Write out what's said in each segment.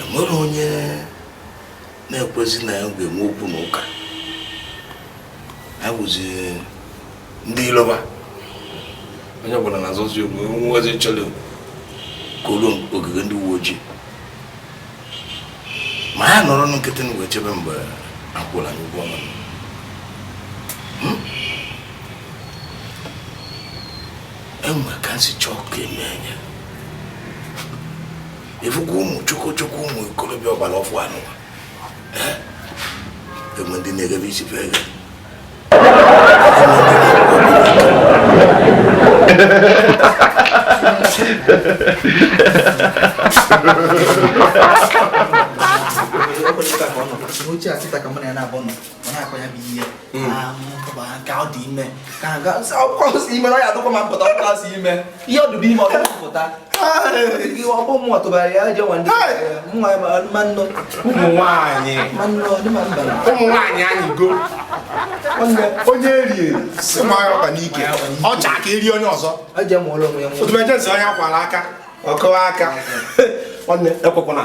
enwere onye na-ekwezi na ya ga-enwe okwu na ụka ha bụzi ndị iloba onye ọbụla na-azọzi okwu nwazi chọrọ koro ogige ndị uwe ojii ma ya nọrọ nkịtị na wee chebe mgbe akwụla anyị ụgwọ ọnwa enwere ka nsi chọọ ka eme anya ịfụgo ụmụ chokochoko ụmụ ikorobịa ọgbara ọfụụ anụwa enwe ndị na-egebe isi fe eghe Oche a sita ka mụ na ya na-abụ nọ onye eri si ma ya ọba n'ike ọ chọọ ka eri onye ọzọ otu ejensi onye akwara aka ọkụwa aka nwanne ekwekwana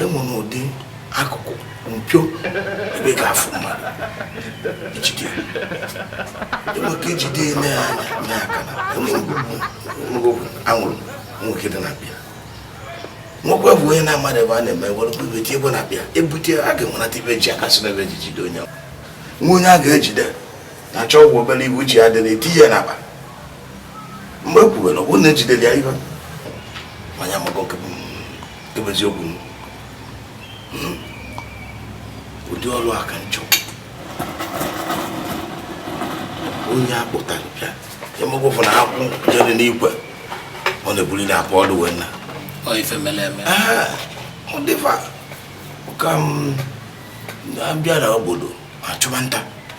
enwere ụdị akụkụ mpio ebe ị ga-afụ mmadụ ijide enweke ijide ime ya anya ime aka na enwego anwụrụ nwoke dị na bịa nwoke bụ onye na-amadị ebe a na-eme were bube tie ebe na bịa ebute a ga-enwenata ibe ji aka si n'ebe ji jide onye nwa onye a ga-ejide na achọ ụgwọ obere ibu ji ya dịrị eti ya n'akpa mgbe e kwuwere ọ bụrụ na ejidere ya ihe manya maka oke bụ eziokwu hmm. ụdị ọrụ a ka m chọrọ onye akpụtara bịa emegbe ụfụ na akwụ jere n'igwe ọ na-ebuliri akwa ọdụ wee na ọ ife mere eme ọ dịfa ka m bịa na obodo achụba nta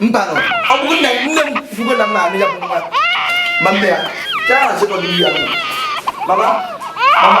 mba nụ ọ bụrụ na nne m fụgo na m na-anụ ya bụ nwa ma mbe ya gaa na sekọndị ya mama mama